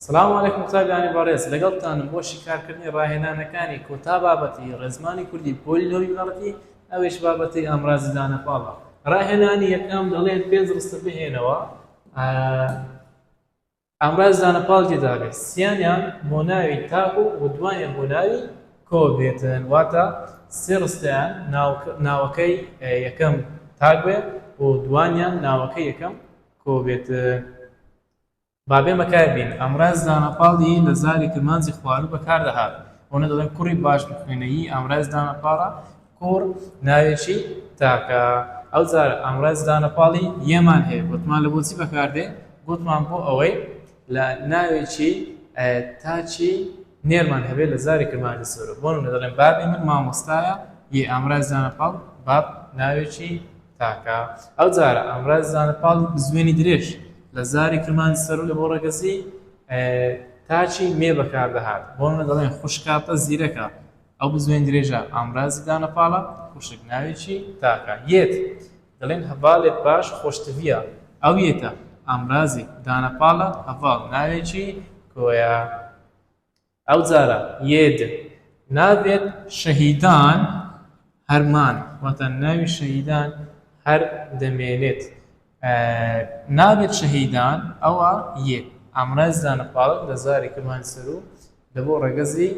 سڵاو علیکم قوتابیانی بەڕێز لەگەڵتانم بۆ شیکارکردنی ڕاهێنانەکانی کۆتا بابەتی ڕێزمانی کوردی پۆلی نۆی بنەڕەتی ئەویش بابەتی ئامرازی دانەپاڵە ڕاهێنانی یەکەم دەڵێن پێنج ڕستە بهێنەوە ئامراز دانەپاڵ تێدابێت سیانیان بۆ ناوی تاک و ودوانیان بۆ ناوی کۆ بێتن واتە سێ ڕستیان ناوەکەی یەکەم تاک بێت و دوانیان ناوەکەی یەکەم کۆ بێتن با بێمە کای بین. ئامراز دانەپاڵ ی لە زاری کرمانجی خواروو بە کار دەهات. ئەونە دەڵێن کوڕی باش بخوێنە ی ئامراز دانەپاڵە، کوڕ ناوێکی تاکە. ئەو جارە ئامراز دانەپاڵ ی یەمان هەیە گۆتمان لە بۆچی بە کار دێ؟ گۆتمان بۆ ئەوەی لە ناوێکی تاکی نێرمان هەبێ لە زاری کرمانجی سۆرە. بۆ نموونە دەڵێن بابی من مامۆستایە ی ئامراز دانەپاڵ باب ناوێکی تاکە ئەو جارە ئامراز زانە پاڵ بزوێنی درێژ لە زاری کرمانی سەروو لە بۆ ڕەگەزی تاچی مێ بەکاردەهات بۆ منە دەڵێن خوشکاتە زیرەکە ئەو بزوێن درێژە ئامرازی دانە پاڵە خوشک ناوێکی تاکە یەت دەڵێن هەڤالێت باش خۆشتویە ئەو یەتە ئامرازی دانە پاڵە هەڤاڵ ناوێکی کۆیە ئەوجارە ید نابێت شەهیدان هەر مان واتە ناوی شەهیدان هەر دەمێنێت نابێت شەهیدان ئەوە ید ئامرای زانە پاڵک لە زاری کرمانی سەرو لە بۆ ڕەگەزی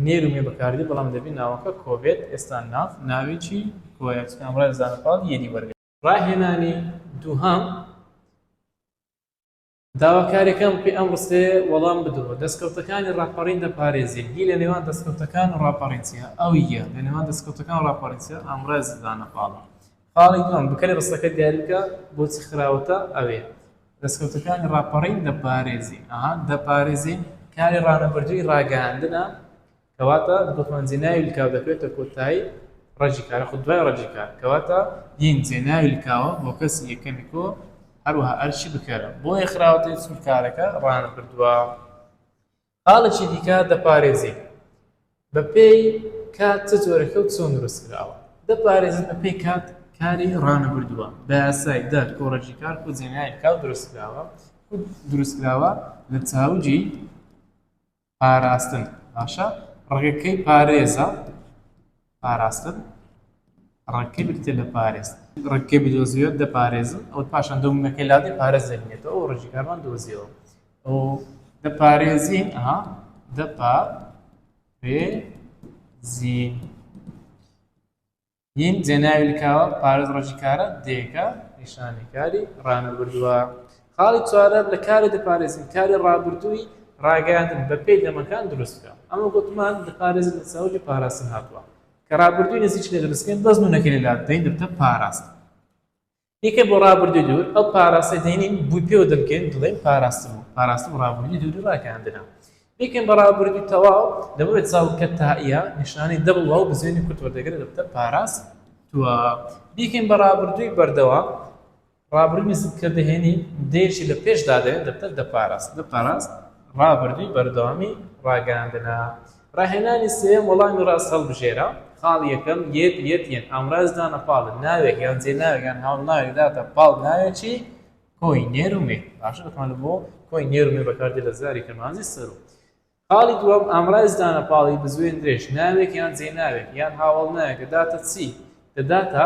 نێر و مێ بەکاردێت بەڵام دەبی ناوەکە کۆ بێت ئێستا ناف ناوی چی کۆیە چونکە ئامرای لە زانە پاڵ یدی وەرگرت. ڕاهێنانی دووهەم. داواکارێکەم پێ ئەم ڕستەیە وەڵام بدەوە، دەستکەوتەکانی ڕاپەڕین دەپارێزێ، هی لە نێوان دەستکەوتەکان و ڕاپەڕین چیە؟ ئەو یە، لە نێوان دەستکەوتەکان و ڕاپەڕین چیە؟ ئامرازی دانە پاڵم. خاڵی دووەم، بکەری ڕستەکە دیاری بکە، بۆچی خراوەتە ئەوێ؟ دەستکەوتەکانی ڕاپەڕین دەپارێزێ، ئەها، دەپارێزێ کاری ڕانەبردووی ڕاگەیاندنە، کەواتە دخمەن زێناوی لکاو دەکەوێتە کۆتایی ڕەجی کارە خود دوای ڕەجی کار کەواتە ین زێناوی لکاوە هۆکەسی یەکەمی کۆ هەروەها ئەرکی بکەرە بۆیە خراوەتەی چون کارەکە ڕانەبردووە خاڵێکی دیکە دەپارێزی بەپێی کات چ جۆرەکە و چۆن دروست کراوە دەپارێزن بەپێی کات کاری ڕانەبردووە بە یاسای دەر کۆڕەجی کار و زێناوی لکاو دروست کراوە دروست کراوە لە چاوجی پاراستن باشە ڕێگەکەی پارێزە پاراستن ڕێکەکەی بکتێ لە پارێز ڕێکەکەی بدۆزیێت دەپارێزم ئەو پاشان دەومەکەی لادی پارێز دەبێتەوە ئەو ڕژی کارمان دۆزیەوە ئەو دەپارێزین ئەها دەپا پێ زین ین جێناوی لکاوە پارێز ڕۆژی کارە دێکە نیشانی کاری ڕانەبردووە خاڵی چوارەم لە کاری دەپارێزین کاری ڕابردووی ڕاگەیاندن بە پێی دەمەکان دروست بکە ئەمە گوتمان دەپارێزین لە چاوگی پاراستن هاتووە کە ڕابردووی نزیک لە دروستکەین بەس نونەکەی لە لادەین دەبتە پاراست یەکێ بۆ ڕابردووی دوور ئەو پاراستە دێنین بووی پێوە دەبکەین دڵێن پاراستم و پاراستم ڕابردووی دووری ڕاکاندنە بێکن بە ڕابردووی تەواو لەبەر چاو کە تائە نیشانەی دەبڵ و بزێنی کورت وەردەگرێت دەبتە پاراست توە بیکەین بە ڕابردووی بەردەوام ڕابردووی نزیک کە دەهێنی دێشی لە پێشدا دێن دەبتە دەپاراست دەپاراست ڕابردووی بەردەوامی ڕاگەاندنە ڕاهێنانی سێیەم وەڵامی ڕاست هەڵبژێرە، خاڵی یەکەم، یەک، یەت، یەن، ئامراز دانە پاڵ ناوێک یان جێناوێک یان هاوندناوێک داتە پاڵ ناوێکی کۆی نێر و مێ باشە بەتوانم بۆ کۆی نێر و مێ بەکاردێ لە زاری کەمانزی سەرو خاڵی دووەم ئامراز دانە پاڵی بزوێن درێژ ناوێک یان جێناوێک یان هاوڵ ناوێکە داتە چی دەداتە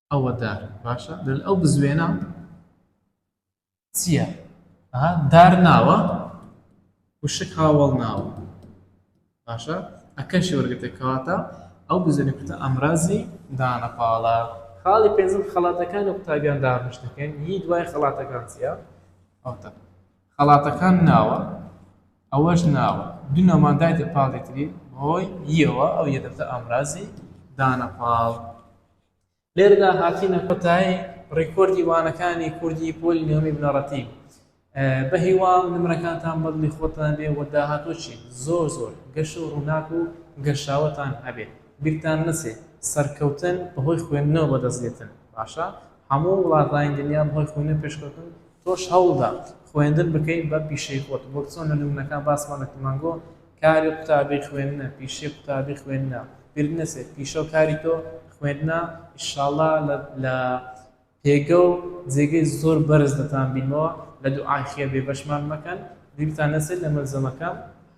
ئەوە دار باشە دەل ئەو بزوێنە چییە دار ناوە وشک هاوڵ ناوە باشە ئەکەشی وەرگتە کەواتە ئەو بزوێنە کوتە ئەمرازی دانەپاڵە خاڵی پێنجم خەڵاتەکان و قوتابیان دابش دەکەین هی دوای خەڵاتەکان چییە ئەوتە خەڵاتەکان ناوە ئەوەش ناوە دونەمان دایتە پاڵێتری هۆی یەوە ئەو یەدەتە ئامرازی دانەپاڵ لێرەدا هاتینە کۆتایی ڕیکۆردی وانەکانی کوردی پۆلی نێوەمی بنەڕەتی بە هیوام نمرەکانتان بەدڵی خۆتان بێ و داهاتۆچی زۆر زۆر گەش و ڕووناک و گەشاوەتان هەبێ بیرتان نەچێ سەرکەوتن بەهۆی خوێندنەوە بەدەست دێتن باشە هەموو وڵاتانی دنیا بەهۆی خوێندن پێشکەوتن تۆش هەوڵدا خوێندن بکەین بە پیشەی خۆت وەک چۆن لە نمونەکان باسمان لە کمانگۆ کاری قوتابی خوێندنە پیشەی قوتابی خوێندنە بیرت نەچێت پیشەو کاری تۆ خوێندنە ئیشاڵا لە لە پێگەو جێگەی زۆر بەرز دەتان بینمەوە لە دوعای خێر بێبەشمان مەکەن بیرتان نەچێت لە مەلزەمەکەم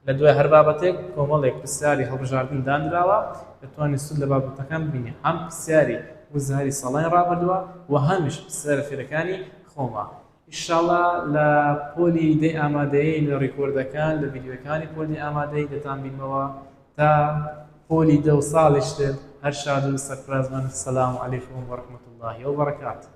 لە دوای هەر بابەتێک کۆمەڵێک پرسیاری هەڵبژاردن دانراوە دەتوانی سود لە بابەتەکان ببینی هەم پرسیاری وزاری ساڵانی ڕابردوە و هەمیش پرسیارە فێرەکانی خۆمان. ئیشاڵا لە پۆلی دەی ئامادەیی لە ڕیکۆردەکان لە ڤیدیۆکانی پۆلی ئامادەیی دەتان بینمەوە تا پۆلی دە و ساڵیش تر هەر شاد و سەرفراز بن سلام علیکم و رحمەتوڵڵاهی و بەڕەکاتوو.